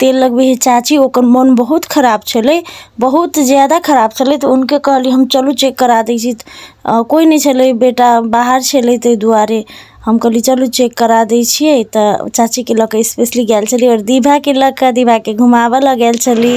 तेल लगबै हइ चाची ओकर मोन बहुत खराब छलै बहुत जादा खराब छलै तऽ हुनके कहलिए हम चलू चेक करा दै छी कोइ नहि छलै बेटा बाहर छलै ताहि दुआरे हम कहलिए चलू चेक करा दै छिए तऽ चाचीके लऽ कऽ स्पेशली गेल छलिए आओर दीवाके लऽ कऽ दीवाके घुमाबऽ लऽ गेल छली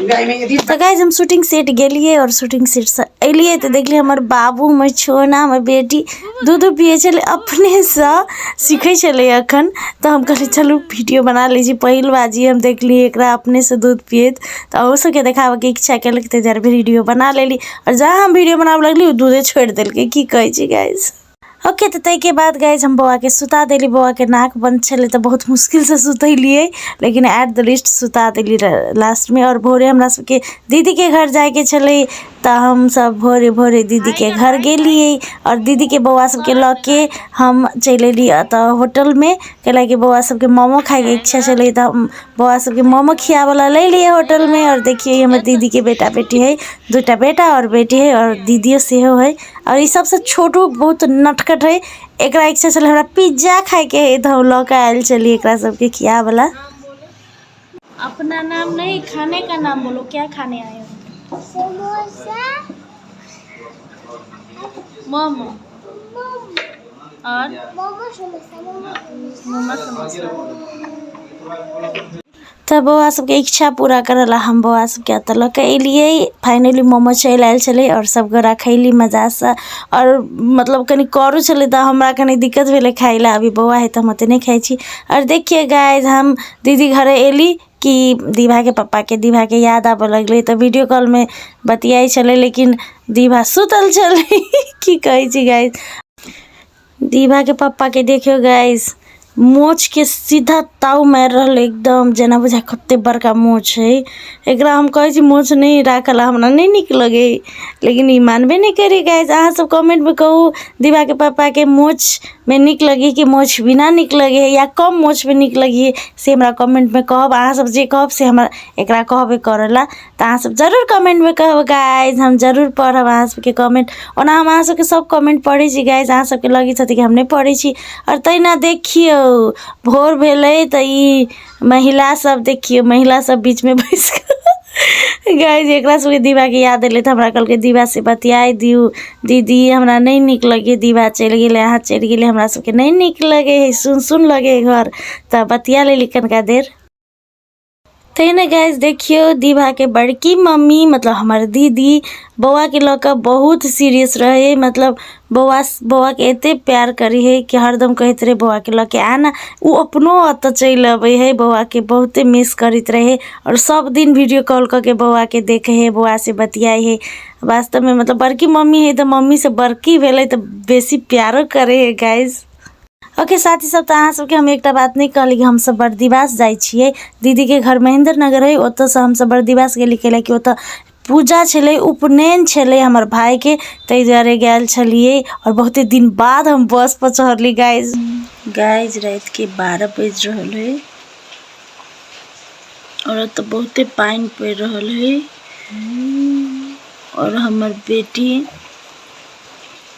तऽ गाइज हम शूटिंग सेट गेलियै आओर शूटिंग सेटसँ एलियै तऽ देखलियै हमर बाबू हमर छोना हमर बेटी दूध पियै छलै अपनेसँ सीखै छलै एखन तऽ हम कहलियै चलू वीडियो बना लै छी पहिल बार जे हम देखलियै एकरा अपनेसँ दूध पियैत तऽ अहू सभके देखाबयके इच्छा केलक ताहि दुआरे वीडियो बना लेली आओर जहाँ हम वीडियो बनाबय लगली ओ दूधे छोड़ि देलकै की कहै छी गाइज ओके तऽ ताहिके बाद गाइज हम बौआके सुता देली बौआके नाक बन्द छलै तऽ बहुत मुश्किलसँ सुतेलिए लेकिन एट द लिस्ट सुता देली लास्टमे आओर भोरे हमरा सबके दीदीके घर जाइके छलै तऽ हमसब भोरे भोरे दीदीके घर गेलिए आओर दीदीके बौआ सबके लऽ के हम चलि अएली एतऽ होटलमे कैलाकि बौआ सबके मोमो खाइके इच्छा छलै तऽ हम बौआ सबके मोमो खियाबैला लेलिए होटलमे आओर देखिए हमर दीदीके बेटा बेटी हइ दुइटा बेटा आओर बेटी हइ आओर दीदिओ सेहो हइ और इ सबसे छोटू बहुत नटखट हेय एकरा इच्छा छले हमरा पिज़्ज़ा खाय के हेय ते हम ले के आएल छलिए एकरा सब के खियाबे वला अपना नाम नहीं खाने का नाम बोलो क्या खाने आए हो समोसा मोमो और मोमो समोसा मोमो समोसा तऽ बौआ सबके इच्छा पूरा करऽ ला हम बौआ सबके एतऽ लऽ कऽ एलियै फाइनली मोमो चलि आयल छलै आओर सब गोरा खैली मजासँ आओर मतलब कनी करू छलै तऽ हमरा कनी दिक्कत भेलै खाइ लए अभी बौआ है तऽ हम ओते नहि खाइ छी आओर देखियै गाइज हम दीदी घरे एली कि दीभाके पप्पाके दीभाके याद आबऽ लगलै तऽ वीडियो कॉलमे बतियाइ छलै लेकिन दीभा सुतल छलै की कहै छी गाइज दीवा के पप्पा के देखियो गाइस मोछ के सीधा ताव मार रहल एकदम जना बुझा कते बड़का मोछ है एकरा हम कहे छी मोछ नहीं राखल हमरा नहीं निक लगे लेकिन ई मानबे नहीं करे गाइस अहाँ सब कमेंट में कहू दीवा के पप्पा के मोछ में निक लगे कि मोछ बिना निक लगे या कम मोछ में निक लगे से हमरा कमेंट में कहब अहाँ सब जे कहब से हमरा एकरा कहबे करला तऽ अहाँसभ जरूर कमेंटमे कहबै गाइज हम जरूर पढ़ब अहाँसभके कमेंट ओना हम अहाँसभके सभ कमेंट पढ़ै छी गाइज अहाँसभके लगै छथि कि हम नहि पढ़ै छी आओर तहिना देखियौ भोर भेलै तऽ ई महिलासभ देखियौ महिलासभ बीचमे बैसि कऽ गाइज एकरा सभके दीवाके याद एलै तऽ हमरा कहलकै दीवासँ बतियाइ दियौ दीदी हमरा नहि नीक लगैए दीवा चलि गेलै अहाँ चलि गेलै हमरा सभके नहि नीक लगै हइ सुन सुन लगै हइ घर तऽ बतिया लेली कनिका देर तै ने गाइज देखियो दीभा के बड़की मम्मी मतलब हमर दीदी बौआ के लऽ कऽ बहुत सीरियस रहै मतलब बौआ बौआ के एते प्यार करी है कि हरदम कहैत रहे बौआ के लऽ के आना ओ अपनो ओतऽ चलि अबै है बौआ के बहुते मिस करैत रहे और सब दिन वीडियो कॉल कऽ के बौआ के देखे है बौआ से बतियाई है वास्तव में मतलब बड़की मम्मी है तऽ मम्मी से बड़की भेलै तऽ बेसी प्यारो करे है गाइज ओके साथी सब तऽ अहाँ सबके हम एकटा बात नहि कहली कि हमसब बर्दिवास जाइ छियै दीदीके घर महेन्द्र नगर अइ ओतऽसँ हमसब बर्दिवास गेली कैले कि ओतऽ पूजा छलै उपनयन छलै हमर भायके ताहि दुआरे गेल छलियै आओर बहुते दिन बाद हम बसपर चढ़ली गाइज गाइज रातिके बारह बाजि रहल है आओर ओतऽ बहुते पानि पड़ि रहल है आओर हमर बेटी